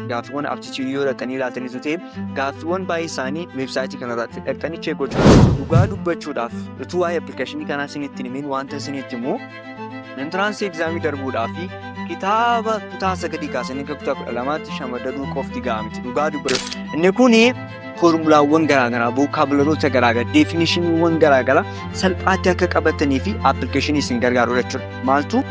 gaaffiiwwan aptitude yoo dhaqanii ilaaltanii ta'e gaaffiiwwan baay'ee isaanii weebsaayitii kanarratti dhaqanii chee gochuu dhugaa dubbachuudhaaf utuu waa'ee appilikeeshinii kanaa isinitti himin wanta isinitti himu intiraansii egzaamii darbuudhaa fi kitaaba kutaa sagadii kaasanii akka kutaa kudha lamaatti shamadaduu qofti ga'amti dhugaa dubbatu inni kun foormulaawwan garaagaraa, vookaabilaroota garaagaraa, deefinishiniiwwan garaagaraa salphaatti akka qabatanii fi appilikeeshinii isin gargaarudha jechuudha. Maaltu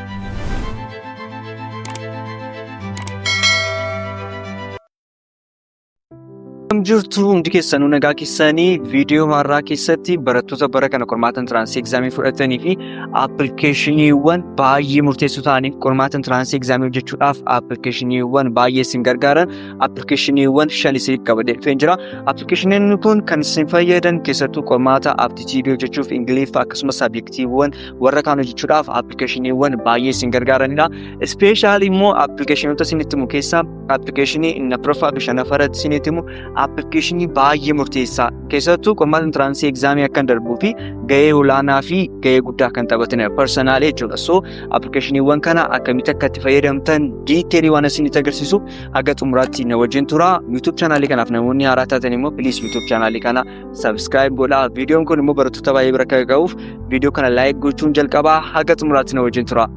Akkam jirtu hundi keessanuu nagaa keessanii viidiyoo har'aa keessatti barattoota bara kana qormaata intiraansii egzaamii fudhatanii fi appilikeeshiniiwwan baay'ee murteessoo ta'aniif qormaata intiraansii egzaamii hojjechuudhaaf appilikeeshiniiwwan baay'ee isin gargaaran appilikeeshiniiwwan shan isiniif qabadee dhufeen jira. Appilikeeshiniin kun kan isin fayyadan keessattuu qormaata aptitiidii hojjechuuf Ingiliffa akkasumas saabjektiiwwan warra kaan hojjechuudhaaf appilikeeshiniiwwan baay'ee isin gargaaranidha. Ispeeshaalii immoo appilikeeshinoota isinitti himu keessaa appilikeeshinii inni afuraffaa fi shanaffaa irratti isinitti himu appilikeeshinii baay'ee murteessaa keessattuu qormaata intiraansii egzaamii akka darbuu fi gahee olaanaa fi gahee guddaa kan taphatanidha. Parsanaalee jechuudha. So appilikeeshiniiwwan kana akkamitti akka itti fayyadamtan diiteelii waan isinitti agarsiisu haga xumuraatti na wajjin tura. YouTube chaanaalii kanaaf namoonni haaraa taatan immoo please YouTube chaanaalii kana subscribe godhaa. Viidiyoon kun immoo barattoota baay'ee bira akka ga'uuf viidiyoo kana like gochuun jalqabaa haga xumuraatti na wajjin tura.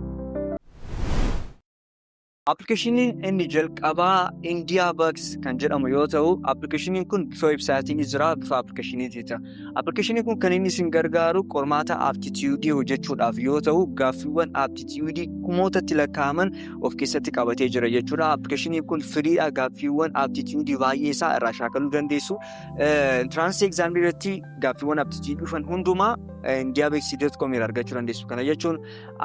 Appilikeeshiniin inni jalqabaa India Bucks kan jedhamu yoo ta'u, appilikeeshiniin kun bifa websaayitiin jira, bifa appilikeeshiniitiin jira. Appilikeeshiniin kun kan inni isin gargaaru qormaata aptitiyuudii hojjechuudhaaf yoo ta'u, gaaffiiwwan aptitiyuudii kumootatti lakkaa'aman of keessatti qabatee jira jechuudha. Appilikeeshiniin kun firiidha. Gaaffiiwwan aptitiyuudii baay'ee isaa irraa shaakaluu dandeessu. Intiraansii egzaamii irratti gaaffiiwwan aptitiyuudii dhufan hundumaa indiabeeksii.com irraa argachuu dandeessu. Kana jechuun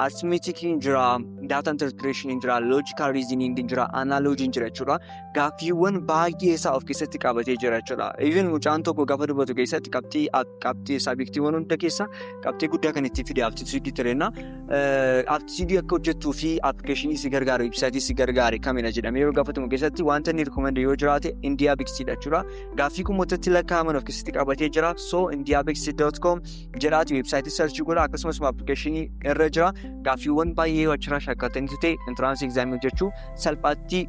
artimeetikiin jira, daata interpireeshiniin jira, loojikaal riiziniingiin jira, anaaloojiin jira jechuudha. gaaffiiwwan baay'ee isaa of keessatti qabatee jira jechuudha. Even mucaan tokko gaafa dubbatu keessatti qabxii qabxii isaa beektiiwwan hunda keessaa qabxii guddaa kan itti fide aptituudii tireenna. Aptituudii akka hojjettuu fi appilikeeshinii si gargaaru ibsaatii si gargaare kamidha jedhamee yoo gaafatamu keessatti wanta inni rikoomandee yoo jiraate indiyaa beeksiidha jechuudha. Gaaffii kumootatti lakkaa'aman of keessatti qabatee jira. So indiyaa beeksii dot com jedhaati weebsaayitii sarchii godha akkasumas appilikeeshinii irra jira. Gaaffiiwwan baay'ee achirraa shaakkaltanii ta'e intiraansii egzaamii hojjechuu salphaatti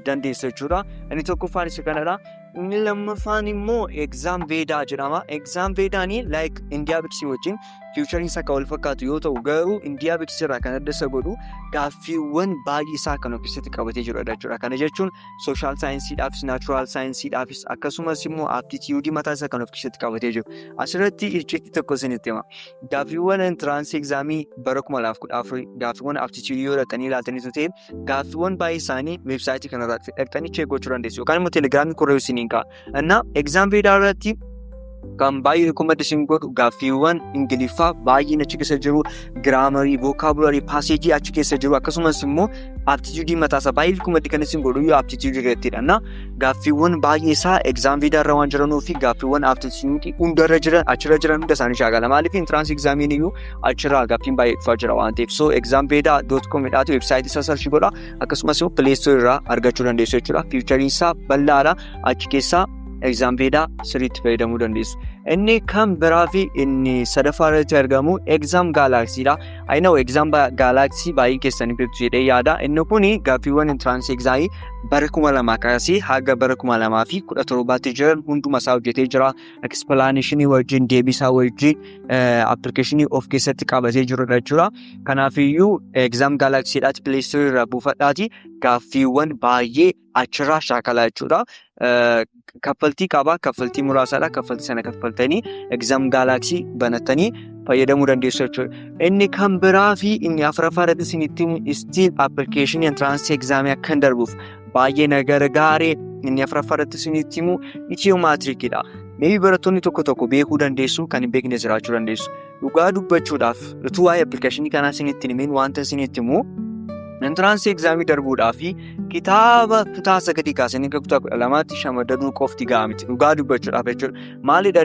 dandeessu jechuudha. Inni tokkoffaan isa kanadha. Inni lammaffaan immoo egzaam veedaa jedhama. Egzaam veedaan like indiyaa biksii wajjin fiichariin isaa kan wal fakkaatu yoo ta'u garuu indiyaa biksii irraa kan adda isa godhu gaaffiiwwan baay'ee isaa kan of keessatti qabatee jirudha jechuudha. Kana jechuun sooshaal saayinsiidhaafis naachuraal saayinsiidhaafis akkasumas immoo aptitiyuudii mataa isaa kan of keessatti qabatee jiru. Asirratti icciitti tokko isinitti hima. Gaaffiiwwan intiraansii egzaamii bara 2014 gaaffiiwwan aptitiyuudii yoo dhaqanii ilaaltanii ta'e gaaffiiwwan baay'ee isaanii weebsaayitii kanarratti dhaqxanii cheek gochuu dandeessu yookaan immoo telegiraamii korree isiniin ka'a. Innaa egzaam viidaa irratti kan baay'ee rikoomandi isin godhu gaaffiiwwan ingiliffaa baay'een achi keessa jiru giraamarii vookaabuularii paaseejii achi keessa jiru akkasumas immoo aptituudii mataasaa baay'ee rikoomandi kan isin godhu yoo aptituudii irrattidha. Innaa gaaffiiwwan baay'ee isaa egzaam viidaa irra waan jiranuu fi gaaffiiwwan aptituudii hundarra jiran achirra jiran hunda isaanii shaakala maaliif intiraansii egzaamiin iyyuu achirraa gaaffiin baay'ee dhufaa jira waan ta'eef so examveda dot com jedhaatu websaayitii isaa sarchi godha akkasumas immoo pileestoorii irraa argachuu dandeessu jechuudha fiichariin isaa bal'aadha achi keessaa examveda sirriitti fayyadamuu dandeessu. Inni kan biraa fi inni sadaffaa irratti argamu exam gaalaaksii dha. Ayina exam gaalaaksii baay'ee keessanii beektu jedhee yaada. Inni kun gaaffiiwwan intiraansii egzaamii bara kuma lamaa kaasee haga bara kuma lamaa fi kudha torbaatti jiran hunduma isaa hojjetee jira. ekspilaanishinii wajjin deebisaa wajjin appilikeeshinii of keessatti qabatee jirudha jechuudha. Kanaafiyyuu egzaam gaalaksiidhaati pileestoorii irraa buufadhaati gaaffiiwwan baay'ee achirraa shaakalaa jechuudha. Kaffaltii qabaa kaffaltii muraasaadha kaffaltii sana kaffaltanii egzaam gaalaksii banattanii fayyadamuu dandeessu jechuudha. Inni kan biraa fi inni afuraffaa irratti isinitti istiin appilikeeshinii entiraansii egzaamii akkan darbuuf baay'ee na gargaare inni afraffaa irratti isinitti himu itiyoo maatirikidha. Meebii barattoonni tokko tokko beekuu dandeessu kan hin beekne jiraachuu dandeessu. Dhugaa dubbachuudhaaf utuu waa'ee appilikeeshinii kanaa isinitti hin himin wanta isinitti himu intiraansii egzaamii darbuudhaa fi kitaaba kutaa sagadii kaasanii hanga kutaa kudha lamaatti shamadaduu qofti ga'a miti. Dhugaa dubbachuudhaaf jechuudha. Maalidha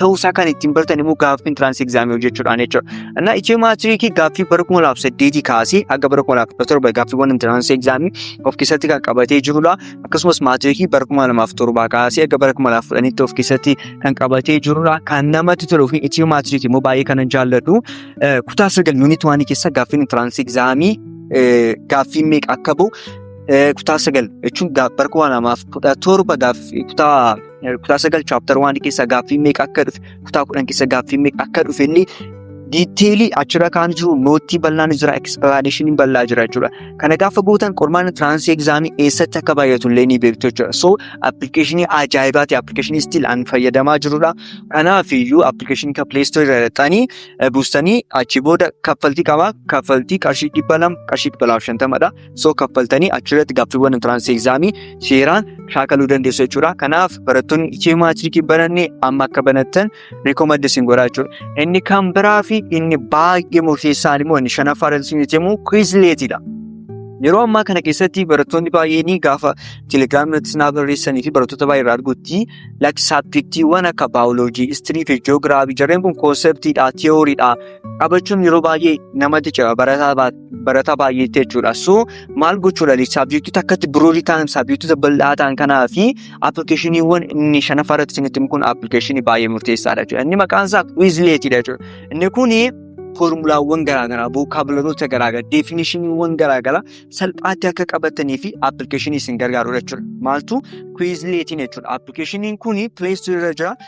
ta'uusaa kan ittiin bartan immoo gaaffii intiraansii egzaamii hojjechuudhaan jechuudha. Innaa Itiyoo maatiriikii gaaffii bara kuma laaf saddeetii kaasee hanga bara kuma laaf kudha torba gaaffiiwwan intiraansii egzaamii of keessatti kan qabatee jirudha. Akkasumas maatiriikii bara kuma lamaaf torbaa kaasee hanga bara kuma laaf kudhanitti of keessatti kan qabatee jirudha. Kan namatti toluu fi Itiyoo maatiriikii immoo baay'ee kanan jaalladhu. Kutaa sagal yuuniit waanii keessa gaaffiin intiraansii egzaamii gaaffii meeqa akka ba'u kutaa sagal jechuun bara kuma lamaaf kudha torba kutaa Kutaa sagal chaaptar waan keessa gaaffii meeqa akka dhufe kutaa kudhan keessa gaaffii meeqa akka dhufe illee diiteelii achirra kaan jiru noottii bal'aan jira ekspilaaneeshiniin bal'aa jira jechuudha. Kana gaafa gootan qormaanni tiraansii egzaamii eessatti akka baay'atu illee ni beektu jechuudha. So appilikeeshinii ajaa'ibaa ta'e appilikeeshinii stiil an fayyadamaa jirudha. Kanaaf iyyuu appilikeeshinii kan pileestoorii irra dhaqxanii buustanii achi booda kaffaltii qaba. Kaffaltii qarshii dhibba lama qarshii dhibba lamaaf shantamadha. So kaffaltanii achirratti gaaffiiwwan intiraansii egzaamii seeraan shaakaluu dandeessu jechuudha. Kanaaf barattoonni ichii maatirikii bananne amma akka banattan rikomaddi isin godhaa jechuudha. Inni kan biraa fi inni baay'ee murteessaan immoo inni shanaffaa irratti isin jettee immoo kwiizleetiidha. Yeroo ammaa kana keessatti barattoonni baay'een gaafa telegiraamii irratti isin barreessanii fi barattoota baay'ee irraa argutti lakki saabjektiiwwan akka baayoloojii, istirii fi ji'oogiraafii jarreen kun koonseptiidha, tiyooriidha qabachuun yeroo baay'ee namatti cira barataa baay'ee. barataa baay'eetti jechuudha. So maal gochuu dha? Saabjektoota akkatti biroorii ta'an, saabjektoota bal'aa ta'an kanaa fi appilikeeshiniiwwan inni shanaffaa irratti isinitti himu kun appilikeeshinii baay'ee murteessaa dha jechuudha. Inni maqaan isaa Quizlet dha jechuudha. Inni kuni foormulaawwan garaagaraa, vookaabilaroota garaagaraa, deefinishiniiwwan garaagaraa salphaatti akka qabatanii fi appilikeeshinii isin gargaaru jechuudha. Maaltu Quizlet jechuudha. Appilikeeshiniin kuni Play Store irra jira.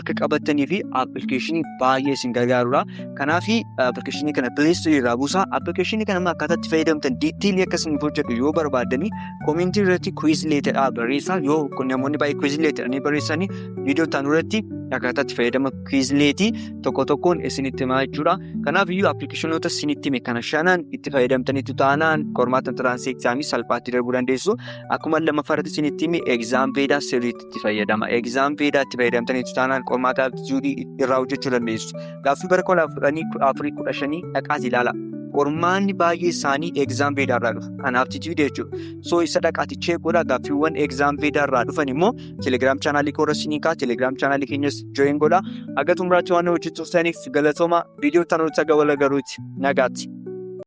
akka qabattanii fi appilikeeshinii baay'ee isin gargaarudha. Kanaaf appilikeeshinii kana pileestirii irraa buusaa. Appilikeeshinii kana akkaataa itti fayyadamtan diiteelii akka isin hojjedhu yoo barbaaddanii koomentii irratti kuwiz leetadhaa barreessaa. Yoo namoonni baay'ee kuwiz leetadhanii barreessanii viidiyoo ta'an irratti akkaataa itti fayyadama kuwiz leetii tokko tokkoon isinitti himaa jechuudha. Kanaaf iyyuu appilikeeshinoota isinitti hime kana shanan itti fayyadamtaniitu taanaan qormaata tiraansii egzaamii salphaatti darbuu dandeessu. Akkuma lammaffaa irratti isinitti hime egzaam beedaa sirriitti itti fayyadama. Egzaam feedaa itti fayyadamtaniitu taanaan qormaata aptituudii irraa hojjechuu dandeessu. Gaaffii bara kudha afuranii kudha afurii kudha shanii dhaqaas ilaala. Qormaanni baay'ee isaanii egzaam feedaa irraa dhufu. Kan aptituudii jechuudha. So isa dhaqaati cheek godha gaaffiiwwan egzaam feedaa irraa dhufan immoo telegiraam chaanaalii koorra sinii kaa telegiraam chaanaalii keenyas join godha. Haga xumuraatti waan hojjechuuf ta'aniif galatooma viidiyoo tanuu taga wal agaruuti nagaatti.